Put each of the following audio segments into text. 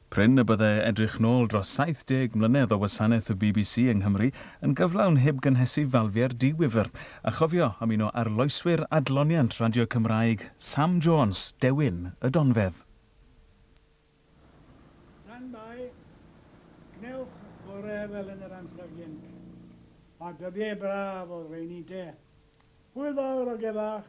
Prin y bydde edrych nôl dros 70 mlynedd o wasanaeth y bbc yng Nghymru yn gyflawn heb gynhesu falfiau'r diwifr, a chofio am un o arloeswyr adloniant radio Cymraeg, Sam Jones, dewin y donfedd. Tan mai, gwnewch gore fel yn yr amser gynt. Mae dyddiau braf o'r rheini te. Hwyl fawr o gefach!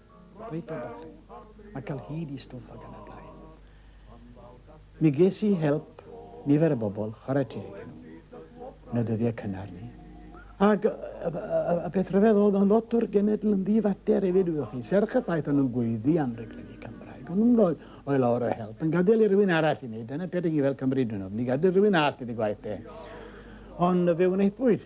Reit dda bach fi. Mae cael hyd i stwff ac yn y blaen. Mi ges i help nifer o bobl, chwarae teg i nhw, yn y dyddiau cynnar ni. Ac y peth rhyfedd oedd yn lot o'r genedl yn ddifater hefyd, wyddoch chi, serch y ffaith o'n nhw'n gweiddi am reglenni Cymraeg. O'n nhw'n rhoi o'i lawr o help, yn gadael i rywun arall i wneud, dyna peth i ni fel Cymru dwi'n ofn, i gadael rhywun arall i dy gwaith e. Ond fe wnaethpwyd,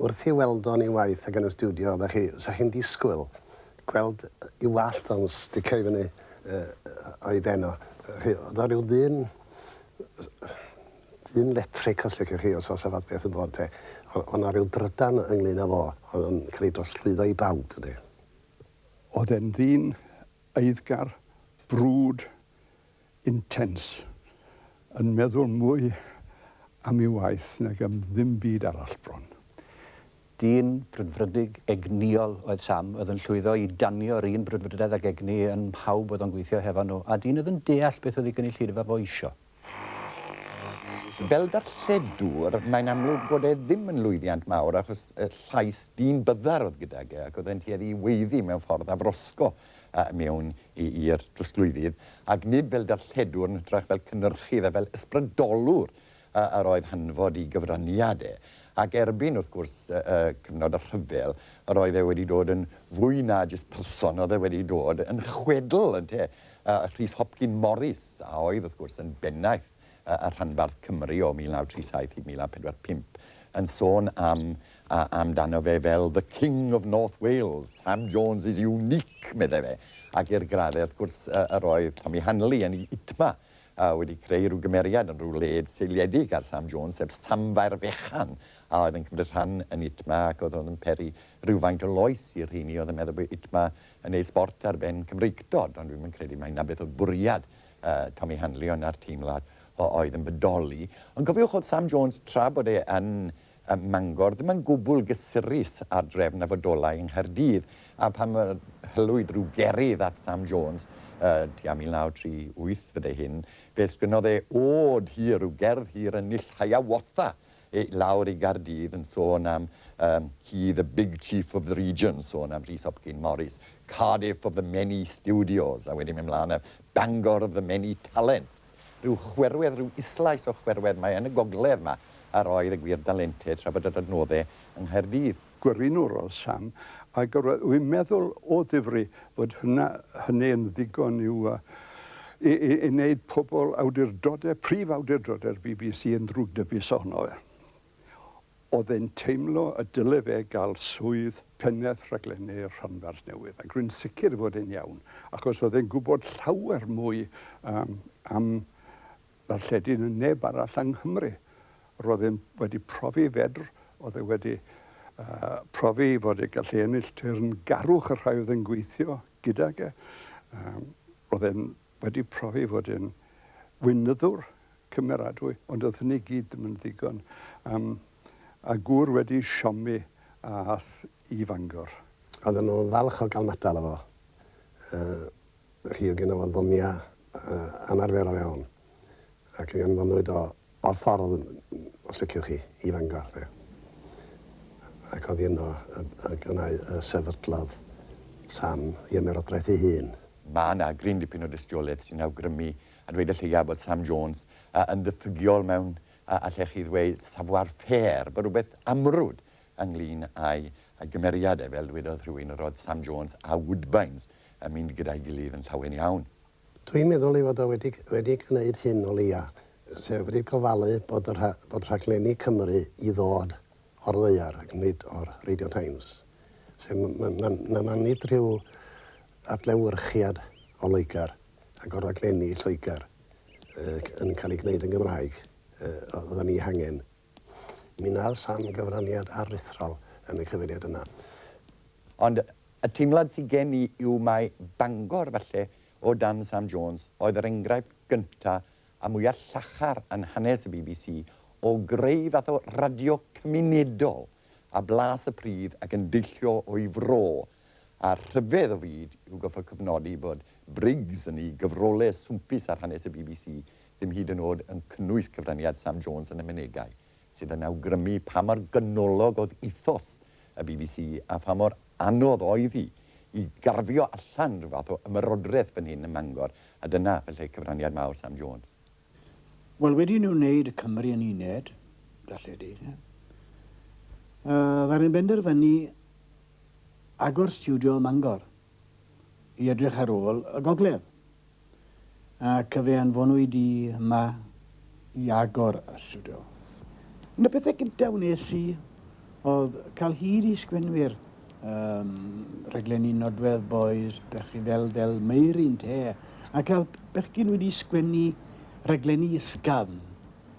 Wrth i Weldon i waith ag yn y stiwdio oddech chi, 'sa chi'n disgwyl gweld i wallt o'n sticio i fyny o'i ben o. Chi, o'dd o ryw ddyn ddyn letric os liciwch chi os o's 'a fath beth yn bod te. O- o' 'na ryw drydan ynglŷn â fo o'dd yn ca'l 'i drosglwyddo i bawb ynde? O'dd e'n ddyn eiddgar, brwd, intense, yn meddwl mwy am ei waith nag am ddim byd arall bron. Dyn brwdfrydig, egnïol oedd Sam, oedd yn llwyddo i danio'r un brwdfrydedd ac egni yn mhawb oedd o'n gweithio hefo nhw, a dyn oedd yn deall beth oedd ei gynulleidfa fo isio. Fel darlledwr, mae'n amlwg bod e ddim yn lwyddiant mawr achos y llais dyn byddar oedd gydag e ac oedd e'n tueddu i weiddi mewn ffordd afrosgo a mewn i'r drosglwyddydd, ac nid fel darlledwr yn hytrach fel cynyrchydd a fel ysbrydolwr yr oedd hanfod i gyfraniad e. Ac erbyn, wrth gwrs, y cyfnod y rhyfel, yr oedd e wedi dod yn fwy na jyst person, oedd e wedi dod yn chwedl, ynte, Rhys Hopcyn Morris, a oedd, wrth gwrs, yn bennaeth y rhanbarth Cymru o 1937 i 1945, yn sôn am amdano fe fel 'the King of North Wales', 'Sam Jones is unique', meddai fe, ac i'r graddau, wrth gwrs, yr oedd Tommy Hanley yn ei ITMA wedi creu rhyw gymeriad yn rhyw led seiliedig ar Sam Jones, sef samfaer fechan a oedd yn cymryd rhan yn ITMA ac oedd yn peri rhywfaint o loes i'r rheini oedd yn meddwl bod ITMA yn neud sbort ar ben Cymreictod, ond dwi'm yn credu mai 'na beth oedd bwriad Tommy Hanley o 'na'r teimlad oedd yn bodoli. Ond cofiwch oedd Sam Jones, tra bod e yn Mangor, ddim yn gwbl gysurus â'r drefn a fodolai yng Nghaerdydd, a phan hylwyd rhyw gerydd at Sam Jones, tua 1938 fyddai hyn, fe sgynnodd e ôd hir, rhyw gerdd hir yn Nill Hiawatha, i lawr i Gaerdydd yn sôn am um, he the big chief of the region, sôn am Rhys Hopkin Morris, Cardiff of the many studios, a wedyn mynd mlaen a Bangor of the many talents. Rhyw chwerwedd, rhyw islais o chwerwedd mae yn y gogledd yma, a roedd y gwir dalentau tra bod yr adnoddau yng Nghaerdydd. Gwiriwnyrodd Sam, ac yr oedd yn meddwl o ddifri fod hynna, hynny yn ddigon i'w, i, i, i wneud pobl awdurdodau, prif awdurdodau'r bbc yn ddrwgdybus ohono fe. Oedd e'n teimlo y dyle fe gael swydd pennaeth rhaglennu'r rhanbarth newydd, ac rwy'n sicr fod e'n iawn, achos oedd e'n gwybod llawer mwy, yym, am Darlledu na neb arall yng Nghymru. Roedd e'n wedi profi fedr, oedd e wedi profi fod e gallu ennill teyrngarwch y rhai oedd yn gweithio gydag e. Roedd e'n wedi profi fod e'n weinyddwr cymeradwy, ond oedd hynny i gyd ddim yn ddigon. Yym a gŵr wedi siomi ath i Fangor. Oedden nhw'n falch o gael matal efo. Yy. Felly oedd gynno fo ddonia anarferol iawn ac mi anfonwyd o o'r ffordd, os liciwch chi, i Fangor 'de. Ac oddi yno y y gynna' y sefydlodd Sam 'i ymerodraeth ei hun. Mae 'na gryn dipyn o dystiolaeth sy'n awgrymu, a dweud y lleiaf, bod Sam Jones yn ddiffygiol mewn, allech chi ddweud, savoir faire, bod rhywbeth amrwd ynglŷn â'i gymeriad e, fel dwedodd rhywun, roedd Sam Jones a Woodbines yn mynd gyda'i gilydd yn llawen iawn. Dwi'n meddwl ei fod o wedi wedi gwneud hyn o leia', sef wedi gofalu bod y rha- bod rhaglenni Cymru i ddod o'r ddaear ac nid o'r Radio Times. Sef m- m- ma' ma' ma' nid rhyw adlewyrchiad o Loegr ac o raglenni Lloegr yy c- yn cael ei gwneud yn Gymraeg yy o- oeddan ni hangen. Mi wnadd Sam gyfraniad aruthrol yn y cyfeiriad yna. Ond Y teimlad sy gen i yw mai Bangor, falle, o dan Sam Jones, oedd yr enghraifft gynta a mwya llachar yn hanes y bbc o greu fath o radio cymunedol a blas y pridd ac yn deillio o'i fro, a rhyfedd o fyd yw gorfod cofnodi bod Briggs yn ei gyfrolau swmpus ar hanes y bbc ddim hyd yn o'd yn cynnwys cyfraniad Sam Jones yn y mynegai. sydd yn awgrymu pa mor ganolog oedd ethos y bbc a pha mor anodd oedd hi i garfio allan rhyw fath o ymerodraeth fan hyn ym Mangor, a dyna falle cyfraniad mawr Sam Jones. Wel, wedi i nhw wneud y Cymry yn uned, darlledu, yy, ddaru nhw benderfynu agor stiwdio ym Mangor. i edrych ar ôl y gogledd, ac fe anfonwyd i yma i agor y stiwdio. Un o'r pethau gyntaf wnes i oedd cael hyd i sgwennwyr um, rhaglenni nodwedd boys, pechi fel Del Meirin te, a cael bechgyn wedi sgwennu rhaglenni ysgafn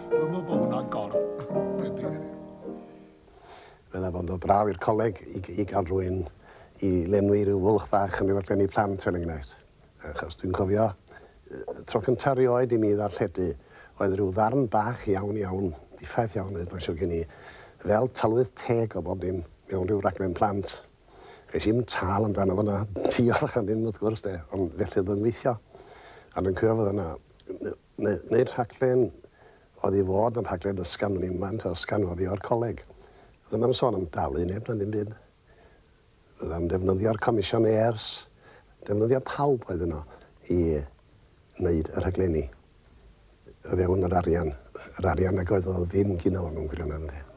Dwi'n meddwl bod hwnna'n gor bendigedig. Meddai bod yn dod draw i'r coleg i, i gael rhywun i lenwi rhyw fwlch bach yn rhywbeth gen i plant fel enghraifft. Achos dwi'n cofio, y tro cyntaf rioed i mi ddarlledu oedd rhyw ddarn bach iawn iawn, diffaith iawn hyd mae'n siwr gen i, fel tylwyth teg o bob dim mewn rhyw raglen plant. Ges i'm tâl amdano fo na diolch am ddim wrth gwrs de, ond felly oedd o'n gweithio. A dwi'n cofio fod yna Neu'r rhaglen oedd i fod yn rhaglen ysgafn yn unman, ta ysgafn oddio'r coleg. Oedd hwnna ddim yn sôn am dalu neb na ddim byd. Oedd am ddefnyddio'r comisiyneers, defnyddio pawb oedd yno i wneud y rhaglenni o fewn yr arian. Yr arian nag oedd o ddim gino fo'n mewn gwirionedd ynde.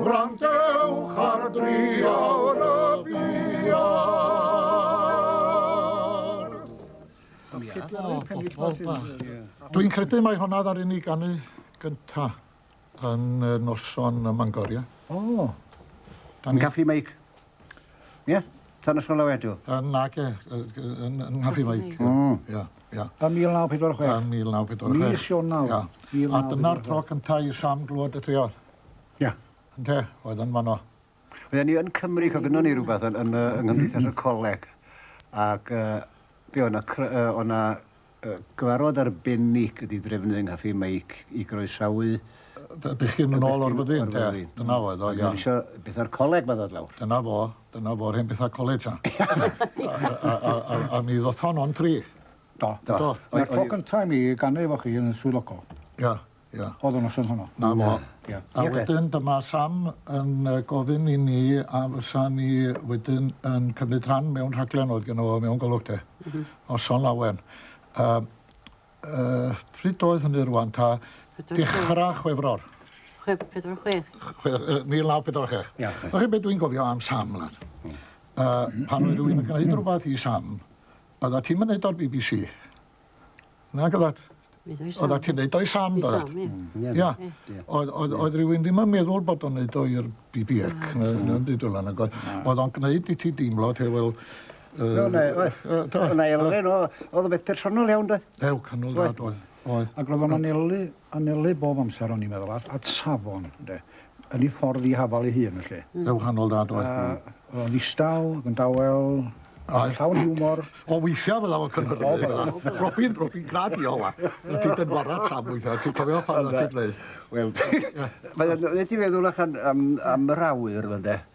Gwrandewch ar driawd y Dwi'n credu mai honna ddaru ni ganu gynta yn y noson ym Mangor, ie? O! Yn Caffi Meic? Ie? Tan y sgol awedu? Yy nage, yy yy yn yn Nghafi Mike. Hmm. Ia, ia. Yn 1946? Yn 1946. Mis Ionawr. Ia. 1946. A dyna'r tro cynta' i Sam glwad y Treor. Ia. Ynde? Oedd yn fanno. Oedden ni yn Cymru, co gynnon ni rwbeth yn yn yy yng Nghymdeithas y Coleg ac yy be' o' 'na cry- yy o' 'na Cyfarfod arbennig ydi drefnu yng Nghaffi Meic i groesawu y bechgyn... Bechgyn yn ôl o'r fyddin te, dyna oedd o, iawn. Ac yn isio betha'r coleg 'ma ddod lawr. Dyna fo, dyna fo'r hen betha coleg ta. A mi ddoth hon o'n tri. Do. Do. Dyna'r tro cynta i mi ganu efo chi yn y swyddogol. Ia. Ia. O'dd y noson honno. 'Na fo. Ia. A wedyn dyma Sam yn yy gofyn i ni a fysa ni wedyn yn cymryd rhan mewn rhaglen oedd gynno fo mewn Golwg de. M-hm. Noson lawen. Yym yy pryd oedd hynny rŵan ta dechra Chwefror. Chwe- pedwar chwech. Ch- chwe- yy mil naw pedwar chwech. Ia. Wch chi be' dwi'n gofio am Sam lads? Hmm. Yy pan oedd rywun yn gneud rwbath i Sam, o'ddat ti'm yn neud o'r Bee Bee See. Nage dad? Oedda ti'n neud o i Sam do dad? Ia. Oedd oedd oedd rywun ddim yn meddwl bod o'n neud o i'r BBX na na dim byd fel 'a nag oedd? Oedd o'n gneud i ti deimlo te wel yy... Do ne- oedd. Yy do. O' 'na elfen o o'dd o'n beth personol iawn doedd? Ew canol dad oedd. Oedd. Ag ro'dd o'n anelu anelu bob amser o'n i'n meddwl at at safon ynde? yn ei ffordd i hafal ei hun felly. Yn wahanol dad oedd. A oedd o'n ddistaw, yn dawel, oedd. llawn hiwmor. O weithiau fel awr cynhyrfu oh, fel yna. Robin, Robin grad i ola. Na ti'n dynwarad sam weithiau, ti'n cofio pan na ti'n gwneud. Wel, mae'n gwneud i feddwl allan am, am yr awyr yma de.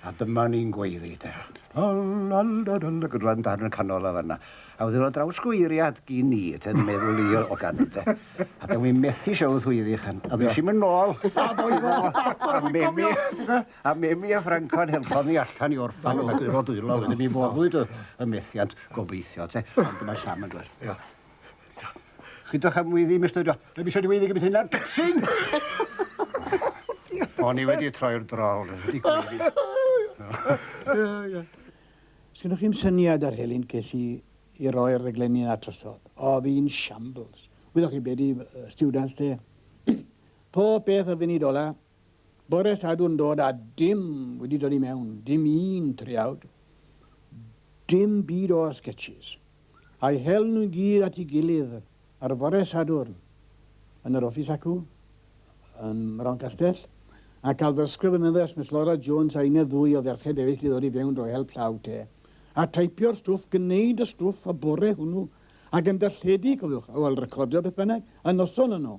A dyma ni'n gweiddi te. Lalalalala, gyda darn yn y canol o fanna. A wedyn oedd draws gweiriad gin ni, te, yn meddwl i o ganu, te. A da wi'n methu siawd hwyddi chan. A ddys i'n mynd nôl. A ddoedd e. A memi, a memi a Franco'n helpodd ni allan i orffan y gwiro dwylo. Wedyn mi foddwyd y methiant gobeithio, te. Ond dyma Sam yn dweud. Ia. Chydwch am wyddi, Mister John. Dwi eisiau dy wyddi gymryd hyn ar dipsyn! O'n i wedi troi'r drol, dwi wedi gwyddi. Sgynnoch chi'm syniad ar helynt ges i i roi'r rhaglenni yna drosodd. Oedd hi'n shambles. Wyddoch chi be di students te? Pob peth o funud ola, Bore Sadwrn dod a dim wedi dod i mewn, dim un triawd, dim byd o'r sketches. A'i hel nhw i gyd at ei gilydd ar fore Sadwrn yn yr office acw ym Mroncastell, a cael dysgwr fy nyddess Miss Laura Jones a une ddwy o ferched eraill i ddod i fewn drwy help llaw te, a taipio'r stwff, gneud y stwff y bore hwnnw, ac yn darlledu, cofiwch, wel recordio beth bynnag, y noson yno.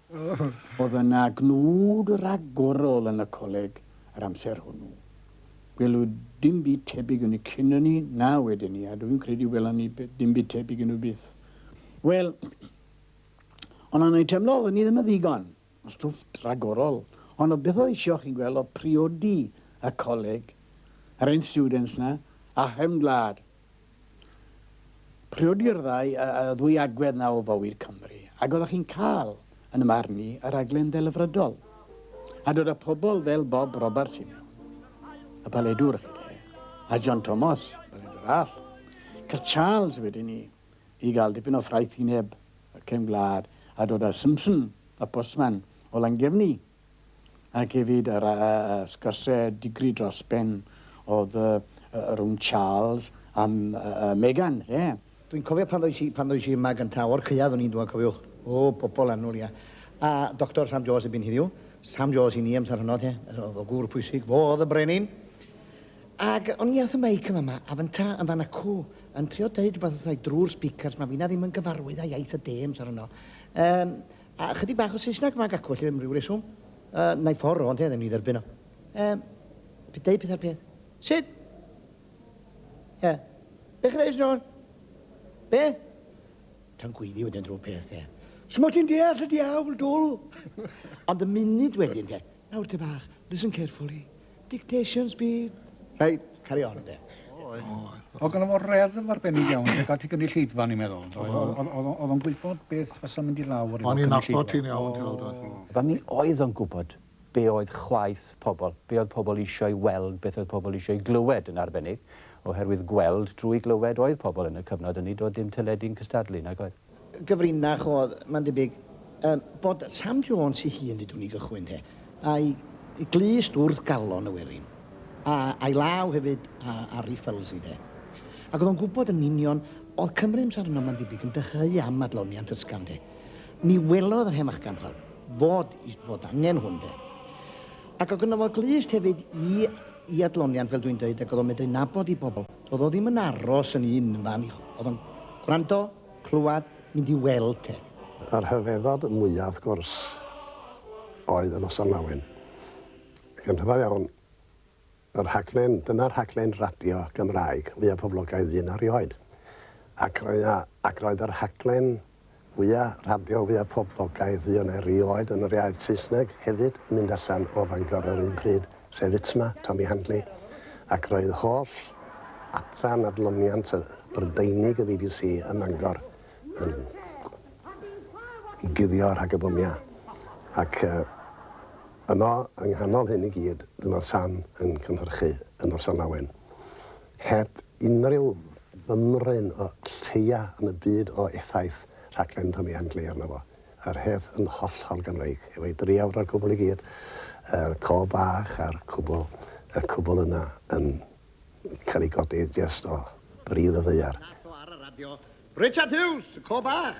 Oedd yna gnwd ragorol yn y coleg yr amser hwnnw. Gwelwyd dim byd tebyg yn y cyn ynny na wedyn 'ny, a dw i'n credu welon ni dim byd tebyg yn nhw byth. Wel, ond o'n i'n teimlo oedden ni ddim yn ddigon o stwff ragorol, ond o beth oedd eisiau chi'n gweld oedd priodi y coleg, yr hen students 'na, a chefn gwlad. Priodi'r ddau, y ddwy agwedd 'na o fywyd Cymru, ac oeddech chi'n cael, yn y marn i, y rhaglen ddelfrydol. A dod â pobl fel Bob Roberts i mewn, y paledwr, chi 'te, a John Tomos, y paledwr all, cael Charles wedyn i, i gael dipyn o ffraethineb y cefn gwlad, a dod â Simpson, y postman, o Langefni. ac hefyd yr sgyrsiau digri dros ben oedd rhwng Charles a Meghan, ie. Dwi'n cofio pan ddois i, pan ddois i yma gyntaf, o'r caead o'n i'n dŵad, cofiwch, o, pobl annwl, ie. A Doctor Sam Jones erbyn heddiw, Sam Jones i ni amser honno, ie, oedd o gwr pwysig, fo oedd y brenin. Ac o'n i wrth y meic yn fama, a fynta yn fan acw, yn trio deud rhywbeth wrthai drwy'r speakers, mae finna ddim yn gyfarwydd â iaith y de amser honno. Um, A ychydig bach o Saesneg ma gacw felly am ryw reswm. Yy nai ffor rownd heddiw ni dderbyn o. Yym pe deu peth ar peth. Sut? Ie. Be chi ddeud John? Be? Tan gweiddi wedyn drwy'r peth de. Simo ti'n deall y diawl dwl? Ond y munud wedyn de. Nawr te bach, listen carefully. Dictation speed. Reit, carry on de. O, gynno fo reddf arbennig iawn tuag at y gynulleidfa, ni'n meddwl. Oedd o'n gwybod beth fysa'n mynd i lawr O'n i'n nabod ti'n iawn, ti'n gweld, oedd. A mi oedd o'n gwybod be oedd chwaeth pobl, be oedd pobl eisiau weld, beth oedd pobl eisiau glywed yn arbennig, oherwydd gweld drwy glywed oedd pobl yn y cyfnod hynny, doedd dim teledu'n cystadlu, nag oedd? gyfrinach oedd, mae'n debyg, yym, bod Sam Jones ei hun, ddeudwn ni gychwyn te, a'i glust wrth galon y werin, a a'i law hefyd ar Harry Felsey de. Ac oedd o'n gwybod yn union, oedd Cymru amser yno, mae'n debyg, yn dyheu am adloniant ysgafn de. Mi welodd yr hen fachgan fel fod, fod angen hwn de. Ac oedd gynno fo glust hefyd i, i adloniant, fel dwi'n dweud, ac oedd o'n medru nabod i bobl. Do'dd o ddim yn aros yn un fan, o'dd o'n gwrando, clwad, mynd i weld 'te. Y rhyfeddod mwya', wrth gwrs, oedd y Noson Lawen. Ac yn rhyfedd iawn, y rhaglen, dyna'r rhaglen radio Gymraeg fwya' poblogaidd fu 'na rioed. Ac roedd 'na, ac roedd y rhaglen Mwya radio, fwya poblogaidd fu yna erioed yn yr iaith Saesneg hefyd yn mynd allan o Fangor yr un pryd, sef Itma, Tommy Handley, ac roedd holl adran adloniant y Brydeinig y bbc ym Mangor yn guddio rhag y bomia. Ac yno, yng nghanol hyn i gyd, dyma Sam yn cynhyrchu Y Noson Lawen. Heb unrhyw fymryn o lleia yn y byd o effaith rhaglen Tommy and Claire arno fo. Yr hedd yn hollol Gymreig, efo'i driawd o'r cwbl i gyd, yr co bach a'r cwbl, y cwbl yna yn cael ei godi jest o bridd y ddaear. Nath o ar y radio. Richard Hughes, y co bach.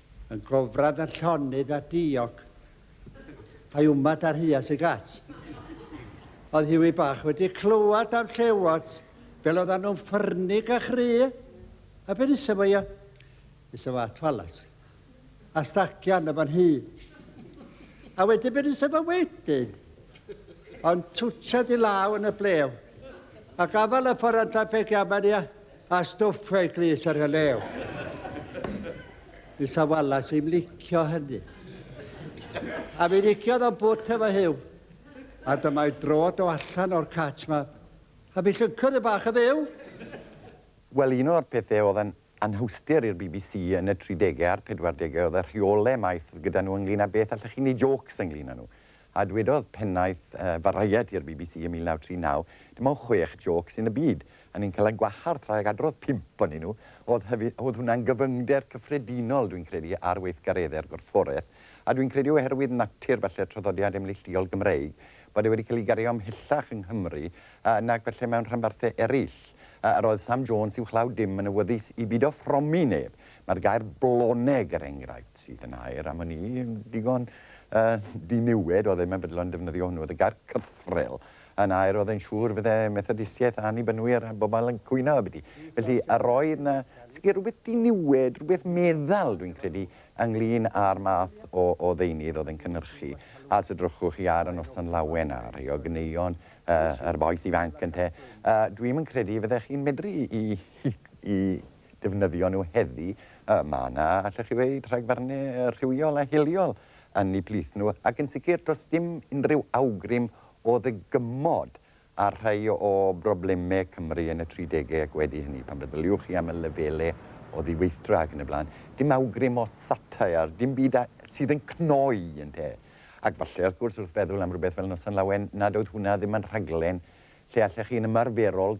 Yn gofrad ar llonydd a diog. A'i wmad ar huas y gat. Oedd Hughie bach wedi clywed am llewod fel oedd nhw'n ffyrnig a chry. A be nesa fo ia? Nesa fo at Wallace. A stacio arno fo'n hŷ. A wedyn be nesa fo wedyn? Ond twtsiad i law yn y blew. A gafal y ffordd antar pe giaman ia. A stwff reit lys ar y lew. Isa walas i'm licio hynny. A mi ddigiodd o'n bwt efo hyw. A dyma'i drod o allan o'r catch ma. A mi llyncodd y bach yn fyw. Wel, un o'r pethau oedd yn anhawsder i'r bbc yn y tridegau a'r pedwardegau oedd y rheolau maith oedd gyda nhw ynglŷn â beth allech chi'n wneud jôcs ynglŷn â nhw. A dwedodd pennaeth Variety i'r bbc ym 1939, Dim ond chwech jôc sy'n y byd, a ni'n cael ein gwahardd tra ag adrodd pump ohonyn nhw. O'dd hwnna'n gyfyngder cyffredinol, dwi'n credu, ar weithgareddau'r gorfforaeth, a dwi'n credu oherwydd natur, falle, traddodiad emneillduol Gymreig, bod e wedi cael ei gario ymhellach yng Nghymru nag falle mewn rhanbarthau eraill. Yr oedd Sam Jones uwchlaw dim yn awyddus i beidio ffromi neb. Mae'r gair 'bloneg', er enghraifft. sydd yn air am wn i, yn digon diniwed, oedd e'n meddwl yn defnyddio hwnnw, oedd y gair cythrel yn air oedd e'n siŵr fydde Methodisiaeth Annibynwyr a bobl yn cwyno abyti. Felly, a roedd na sicr rhywbeth diniwed, rhywbeth meddal, dwi'n credu, ynglyn â'r math o, o ddeunydd oedd e'n cynnyrchu. A os edrychwch chi ar y noson lawen a rhai o gyneuon uh, yr boes ifanc ynte, uh, dwi'n yn credu fyddech chi'n medru i, i, i defnyddio nhw heddi, mae yna, allech chi ddeud, rhagfarnu rhywiol a hiliol yn eu plith nhw, ac yn sicr does dim unrhyw awgrym o ddygymod ar rhai o broblemau Cymru yn y tri degau ac wedi hynny, pan feddyliwch chi am y lefelau o ddiweithdra ac yn y blaen, dim awgrym o satire, dim byd sydd yn cnoi, ynte. Ac falle, wrth gwrs, wrth feddwl am rywbeth fel Noson Lawen, nad oedd hwnna ddim yn rhaglen lle allech chi'n ymarferol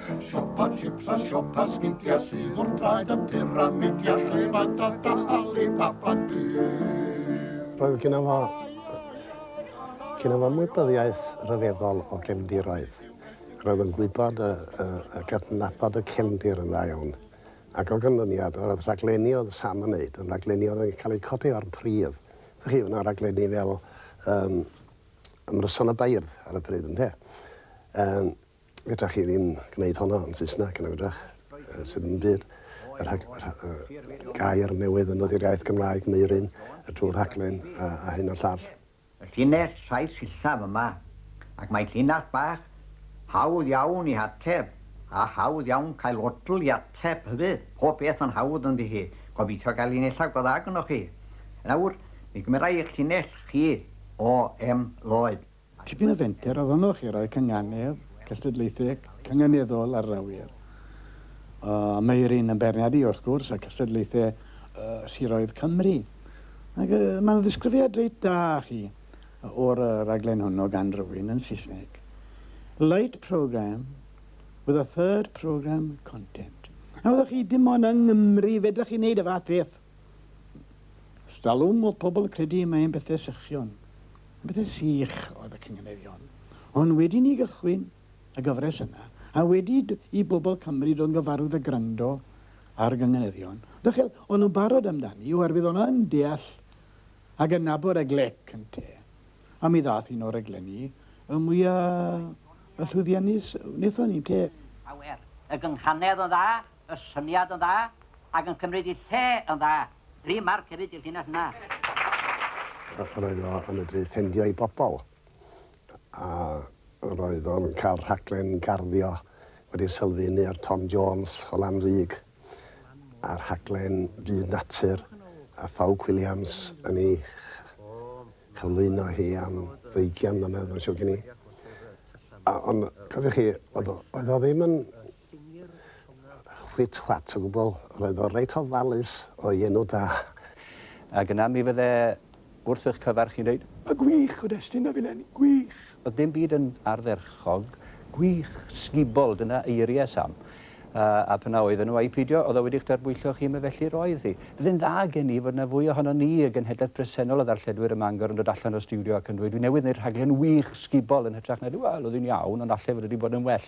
Siopa chips a siopa sgidia sydd wrth draed y pyramidia lle mae dada Alibaba byw. Roedd gynno fo gynno fo ymwybyddiaeth ryfeddol o gefndiroedd. Roedd yn gwybod a gydnabod y cefndir yn dda iawn. Ac o ganlyniad, yr oedd rhaglenni oedd Sam yn wneud yn rhaglenni oedd yn cael eu codi o'r pridd. Dych chi, oedd yna raglenni fel Ymryson y Beirdd ar y pryd, ynde? Fedrwch chi ddim gwneud honno yn Saesneg, na fedrwch? Yy, sydd yn byd. Yr hag- yr ha- yy, gair newydd yn dod i'r iaith Gymraeg, Meurin, y drwy rhaglen, a, a hyn a llall. Y llinell saith sillaf yma, ac mae llinell bach hawdd iawn i hateb, a hawdd iawn cael odl i ateb hefyd. Pob peth yn hawdd ynddi hi. Gobeithio gael un eitha' go dda gynnoch chi. Nawr, mi gymerai eich llinell chi o em Lloyd. Tipyn o fenter ohonoch i roi cynganedd cystadlaetheg cynganeddol ar yr awyr. O, mae'r un yn beirniadu, wrth gwrs, â cystadlaethau siroedd Cymru. Ac mae'n ddisgrifiad reit da chi o'r raglen hwnnw gan rywun yn Saesneg. Light programme with a third programme content. Nawr, chi dim ond yng Nghymru fedrwch chi wneud y fath beth. Os dallwn fod pobl yn credu y mae'n bethau sychion, yn bethau sych oedd y cynganeddion. Ond wedi i ni gychwyn y gyfres yna, a wedi i bobl Cymru ddod yn gyfarwydd â gwrando ar y gynganeddion, ddachel, o'n nhw'n barod amdani oherwydd o'n nhw yn deall ac yn nabod y glec ynte. A mi ddaeth un o'r rhaglenni y mwya' llwyddiannus wnaethon ni, ynte? Awer. Y gynghanedd yn dda, Y syniad yn dda ac yn cymryd ei lle yn dda. Dri marc hefyd i'r llinell yna. Yr oedd o yn medru ffendio i bobl a yr oedd o'n cael rhaglen garddio wedi sylfaenu ar Tom Jones o Lanrug a rhaglen Byd Natur a Ffawc Williams yn ei chyflwyno hi am ddeugian mlynedd mae'n siwr gen i. A ond cofiwch chi oedd o oedd o ddim yn Chwit chwat o gwbl, yr oedd o reit ofalus o'i enw da. Ac yna mi fydde wrth eich cyfer chi'n dweud. A gwych, cyd-destun a filen, gwych! Oedd dim byd yn ardderchog, gwych, sgubol, dyna eiriau Sam. A pan a oedden nhw a'i pheidio, oedd o wedi'ch darbwyllo chi, me felly roedd hi. Bydde'n dda gen i fod yna fwy ohonon ni y genhedlaeth bresennol o ddarlledwyr ym Mangor yn dod allan o'r stiwdio ac yn dweud, dwi newydd wneud rhaglen wych, sgubol, yn hytrach na, wel, oedd hi'n iawn, ond allai fod wedi bod yn well.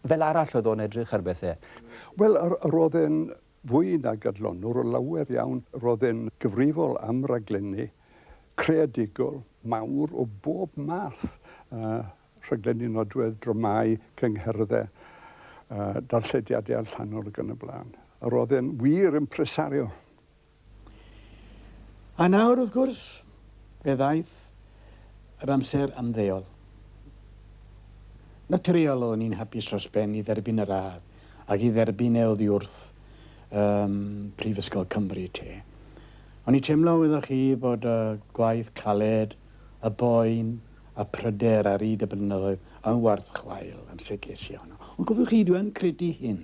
Fel arall oedd o'n edrych ar bethau. Wel, roedd e'n fwy nag adlonwr o lawer iawn. Roedd e'n gyfrifol am raglenni creadigol mawr o bob math, rhaglenni nodwedd, dramâu, cyngherddau, darllediadau allanol ac yn y blaen. Roedd e'n wir impresario. A nawr, wrth gwrs, fe ddaeth yr amser ymddeol. Naturiol o'n i'n hapus dros ben i dderbyn y radd ac i dderbyn e oddiwrth ym Mhrifysgol Cymru, te. O'n i teimlo, wyddoch chi, bod y gwaith caled, y boen, y pryder ar hyd y blynyddoedd yn warth chwael, yn sicr, Siân. Ond cofiwch chi, dwi yn credu hyn,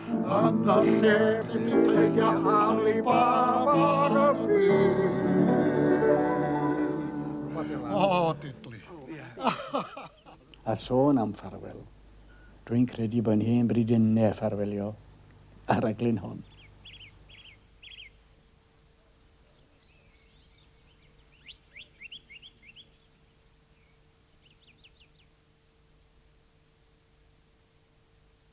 Yn y lle i dreidio Alibaba ar y byd. O, didli. A sôn am ffarwel, dwi'n credu bod hen bryd i ne ffarwelio ar raglen hon.